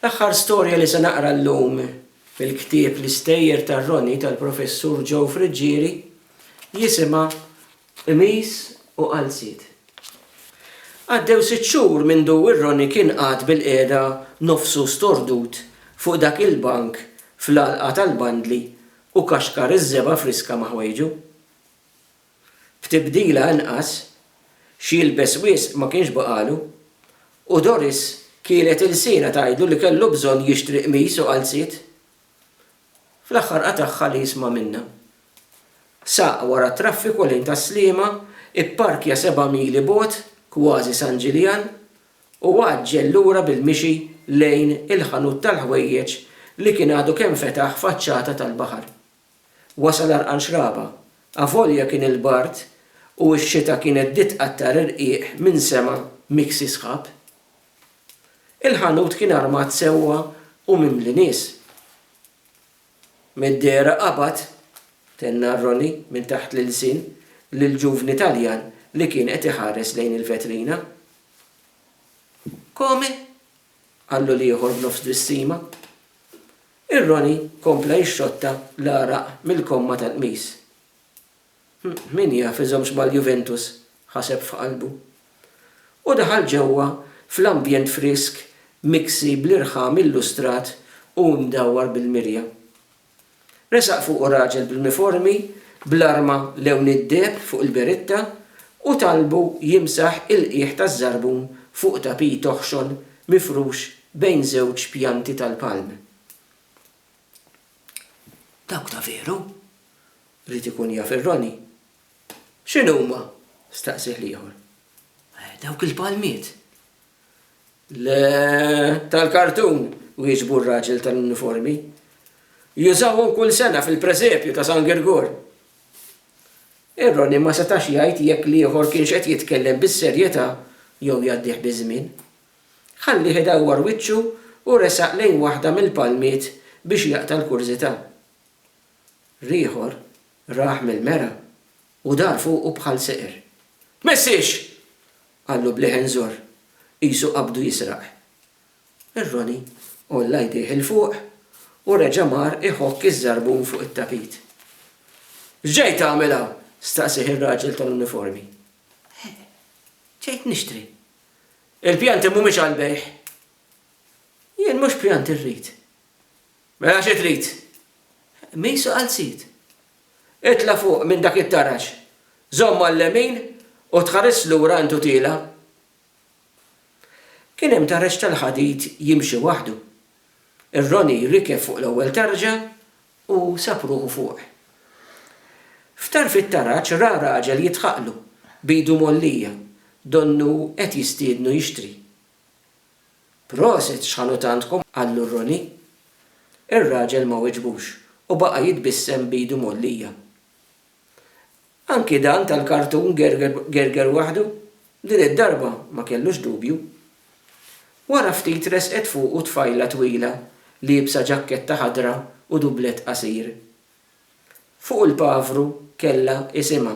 L-aħħar storja li se naqra llum fil-ktieb L-Istejjer tar-Roni tal-Professur Joe Friggieri jisimha Qmis u Qalziet. Għaddew sitt xhur mindu r-Roni kien qagħad bilqiegħda nofsu stordut fuq dak il-bank fl-għalqa tal-bandli u kaxkar iż-żebgħa friska ma' ħwejġu. b'tibdila anqas, x'jilbes wisq ma kienx baqagħlu, u Doris kielet ilsienha tgħidlu li kellu bżonn jixtri qmis u qalziet. Fl-aħħar qatagħha li jisma' minnha. Saq wara t-traffiku lejn Tas-Sliema, ipparkja seba' mili bogħod, kważi San Ġiljan, u għaġġel lura bil-mixi lejn il-ħanut tal-ħwejjeġ li kien għadu kemm fetaħ faċċata tal-baħar. Wasal għarqan xraba. Avolja kien il-bard u x-xita kienet bdiet tqattar irqiq minn sema miksi sħab. Il-ħanut kien armat sewwa u mimli nies. Mid-dehra qabad, tenna Ronnie minn taħt l-ilsien lill-ġuvni Taljan li kien qed iħares lejn il-vetrina. Come? qal l-ieħor b'nofs twissima. Ir-Roni kompla jixxotta l-għaraq mill-komma tal-qmis. Min jaf iżommx mal-Juventus, ħaseb f'qalbu. U daħal ġewwa fl-ambjent frisk miksi bl-irħam illustrat u mdawwar bil-mirja. Resaq fuqu raġel bl-uniformi bl-arma lewn id-deheb fuq il-beritta u talbu jimsaħ il-qiegħ taż-żarbun fuq tapit oħxon mifrux bejn żewġ pjanti tal-palm. Dawk ta' veru? ried ikun jaf ir-Roni. X'inhuma? staqsieh l-ieħor. Dawk il-palmiet. Le, tal-kartun, wieġbu r-raġel tal-uniformi. Jużawhom kull sena fil-presepju ta' San Girgur. Ir-Roni ma setax jgħid jekk l-ieħor kienx qed jitkellem bis-serjetà jew jgħaddih biż-żmien. Ħallieh idawwar wiċċu u resaq lejn waħda mill-palmiet biex jaqta' l-kurżità. L-ieħor rah mill-mera u dar fuqu bħal seqer. Tmissiex! Qallu b'leħen żorr, qisu qabdu jisraq. Ir-Roni għolla jdejh 'il fuq u reġa' mar iħokk iż-żarbun fuq it-tapit. X'ġej tagħmel hawn? staqsieh ir-raġel tal-uniformi. Eħ, ġejt nixtri. Il-pjanti mhumiex għall-bejgħ. Jien mhux pjanti rrid. Mela xi trid? Misu qalziet. Itla' fuq minn dak it-taraġ, żomm għal-lemin u tħaris lura għand Utila. Kien hemm taraġ tal-ħadid jimxi waħdu. Ir-Roni rikeb fuq l-ewwel tarġa u sab ruħu fuq. F'tarf it-taraġ ra raġel jidħaqlu, b'idu mgħollija, donnu qed jistiednu jixtri. Proset x'ħanutantkom qallu Roni. Ir-raġel ma weġbux u baqa' jitbissem b'idu mgħollija. Anki dan tal-kartun gerger gerger waħdu, din id-darba ma kellux dubju. Wara ftit resqet fuqu tfajla twila liebsa ġakketta ħadra u dublett qasir. Fuq il-pavru kellha isimha.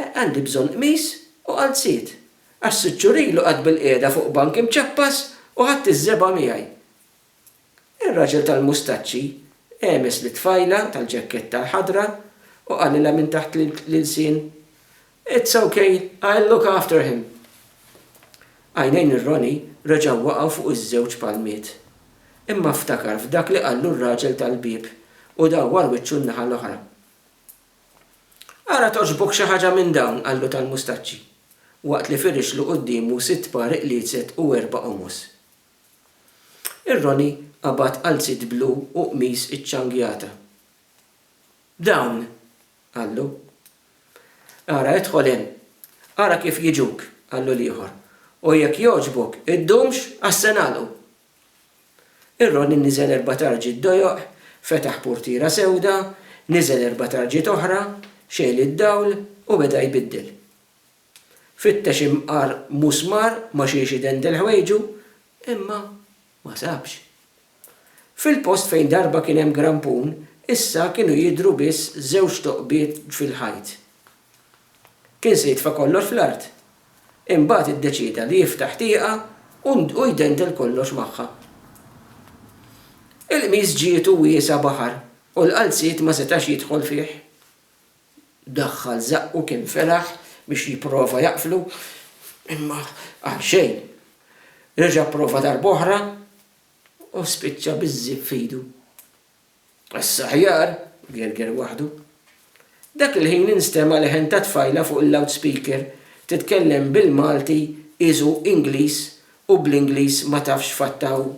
Għandi bżonn qmis u qalziet, għax sitt xhur ilu qgħadt bilqiegħda fuq bank imċappas u ħadt iż-żebgħa miegħi. Ir-raġel tal-mustaċċi għemes lit-tfajla tal-ġakketta l-ħadra u qalilha minn taħt l-ilsien, It's ok, I'll look after him. Għajnejn ir-Roni reġgħu waqgħu fuq iż-żewġ palmiet. Imma ftakar f'dak li qallu r-raġel tal-bieb u dawwar wiċċu n-naħa l-oħra. Ara togħġbok xi ħaġa minn dawn, qallu tal-mustaċċi, waqt li firixlu quddiemu sitt par iqliezet u erba' qomos. Ir-Roni qabad qalziet blu u qmis iċċangjata. Dawn! qallu. Ara idħol hemm. Ara kif jiġuk, qallu l-ieħor, u jekk jogħġbok, iddumx għax se nagħlqu, Ir-roni niżel erba' tarġiet dojoq, fetaħ purtiera sewda, niżel erba' tarġiet oħra, xegħel id-dawl u beda jbiddel. Fittex imqar musmar ma' xiex idendel ħwejġu, imma ma sabx. Fil-post fejn darba kien hemm grampun, issa kienu jidhru biss żewġ toqbiet fil-ħajt. Kien se jitfa' kollox fl-art. Imbagħad iddeċieda li jiftaħ tieqa u u jdendel kollox magħha. Il-qmiż ġietu wiesgħa baħar u l-qalziet ma setax jidħol fih. Daħħal żaqqu kien felaħ biex jipprova jaqflu, imma għal xejn. Reġa' pprova darb'oħra u spiċċa biż-żipp f'idu. Għassa aħjar, gerger waħdu. Dak il-ħin instema' leħen ta' tfajla fuq il-loudspeaker titkellem bil-Malti is u Ingliż u bl-Ingliż ma tafx x'fatta hu.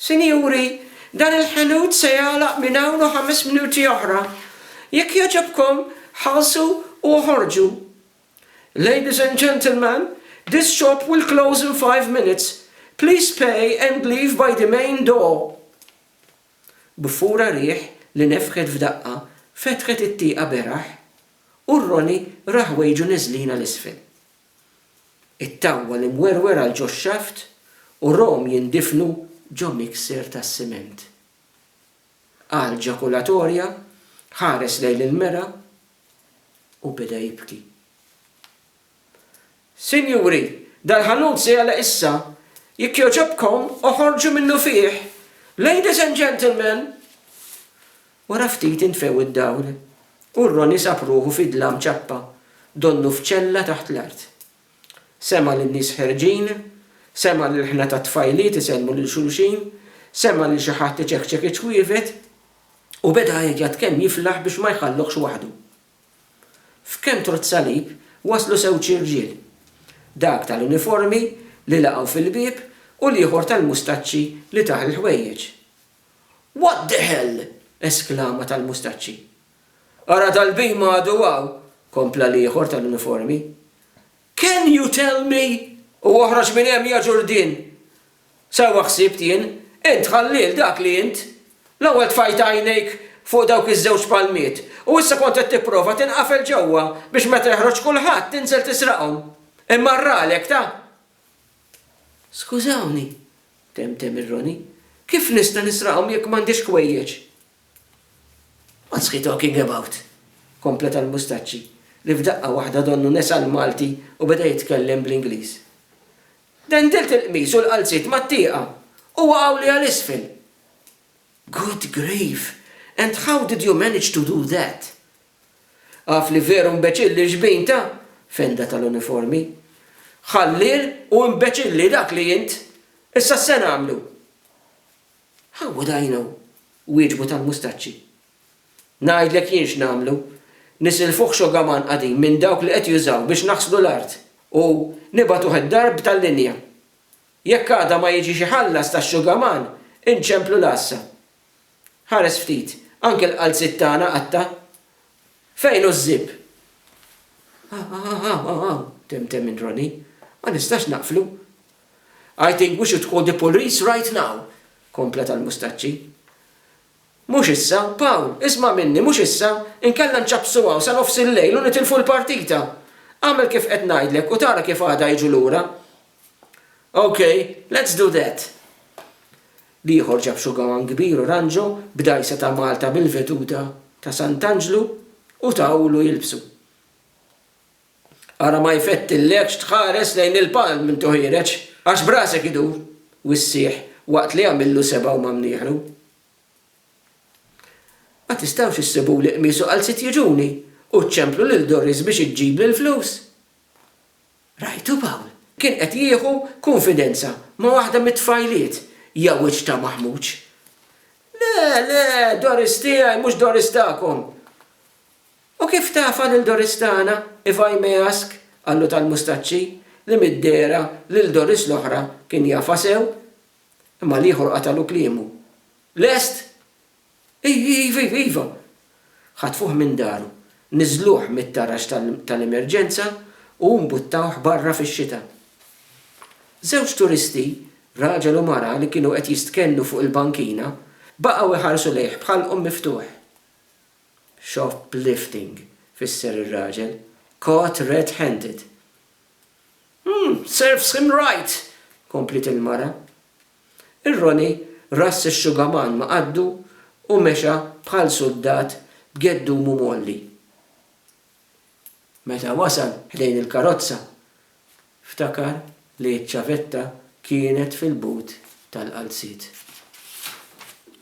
Sinjuri, dan il-ħanut se jagħlaq minn hawn u ħames minuti oħra. Jekk jogħġobkom, ħallsu u oħorġu. Ladies and gentlemen, this shop will close in five minutes. Please pay and leave by the main door. B'fura riħ li nefħet f'daqqa fetħet it-tieqa beraħ u r-Roni ra ħwejġu niżlin għal isfel. It-tawwal imwerwer għal ġox-xaft u rom jindifnu ġo mixer tas-siment. Qal ġakulatorja, ħares lejn il-mera u beda jibki. Sinjuri, dal-ħanut se jagħlaq issa, jekk jogħġobkom oħorġu minnu fih! Ladies and gentlemen! Wara ftit intfew id-dawl u Ronnie sab ruħu fi dlam ċappa, donnu f'ċella taħt l-art. Sema' lin-nies ħerġin, sema' lil ħna tat-tfajliet isellmu lil xulxin, sema' lil xi ħadd iċekċek iċ-ċwievet, u beda għajjat kemm jiflaħ biex ma jħalluhx waħdu. F'kemm trott salib waslu żewġ irġiel, dak tal-uniformi li laqgħu fil-bieb u l-ieħor tal-mustaċċi li tah il-ħwejjeġ. What the hell! esklama tal-mustaċċi. Ara dal-bhim għadu hawn, kompla l-ieħor tal-uniformi. Can you tell me? U oħroġ minn hemm ja Ġurdien! Sewwa ħsibt jien, int ħalliel dak li int! L-ewwel tfajt għajnejk fuq dawk iż-żewġ palmiet u issa kont qed tipprova tinqafel ġewwa biex meta jeħroġ kulħadd tinżel tisraqhom. Imma rralek ta! Skużawni, temtem ir-Roni, kif nista' nisraqhom jekk m'għandix ħwejjeġ? What's he talking about? kompleta l-mustaċċi, li f'daqqa waħda donnu nesa l-Malti u beda jitkellem bl-Ingliż. Dendilt il-qmis u l-qalziet mat-tieqa u waqgħuli għal isfel! Good grief! And how did you manage to do that? Af li veru mbeċilli l-xbin ta', fenda tal-uniformi. Ħalliel u mbeċilli dak li int! Issa x'se nagħmlu? Ħawu dajna u wieġbu tal-mustaċċi. Ngħidlek jien x'nagħmlu, nisilfuh xogaman qadim minn dawk li qed jużaw biex naħslu l-art u nibagħtuh id-darb tal-linja. Jekk għada ma jiġix iħallas tax-xugaman, inċemplu l-għassa. Ħares ftit, anke l-qalziet tagħna qatta'. Fejn hu ż-żib? Hawn, hawn, hawn, hawn, temtem minn Ronnie. Ma nistax naqflu. I think we should call the police right now! kompla tal-Mustaċċi. Mhux issa, Pawl, isma' minni, mhux issa, inkella nċappsu hawn sa nofs il-lejl u nitilfu l-partita! Agħmel kif qed ngħidlek u tara kif għada jiġu lura. Ok, let's do that! L-ieħor ġab xugawan kbir u ranġo b'dgħajsa ta' Malta bil-veduta ta' Sant'Anġlu u tawlu jilbsu. Ara ma jfettillekx tħares lejn il-palm minn tuħiereġ, għax b'rasek idur, u ssieħ, waqt li għamillu sebgħa u mamnieħlu. Ma tistgħux issibuli qmis u qalziet jiġuni, u ċċemplu lil Doris biex iġġibli l-flus? Rajtu Pawl kien qed jieħu kunfidenza ma' waħda mit-tfajliet, ja wiċċ ta' maħmuġ! Le, le, Doris tiegħi, mhux Doris tagħkom! U kif tafa lil Doris tagħna, if I may ask? qallu tal-mustaċċi, li mid-dehra lil Doris l-oħra kien jafha sew. Imma l-ieħor qatagħlu kliemu. Lest? Iv, iv, iv, iva! Ħatfuh minn daru, niżżluh mit-taraġ tal-emerġenza u mbuttawh barra fix-xita. Żewġ turisti, raġel u mara li kienu qed jistkennu fuq il-bankina, baqgħu jħarsu lejh b'ħalqhom miftuħ. Shoplifting, fisser ir-raġel. Caught red-handed. Hm, serves him right! kompliet il-mara. Ir-Roni rass ix-xugaman ma' qaddu u mexa bħal suldat b'geddumu mgħolli. Meta wasal ħdejn il-karozza, ftakar li ċ-ċavetta kienet fil-but tal-qalziet.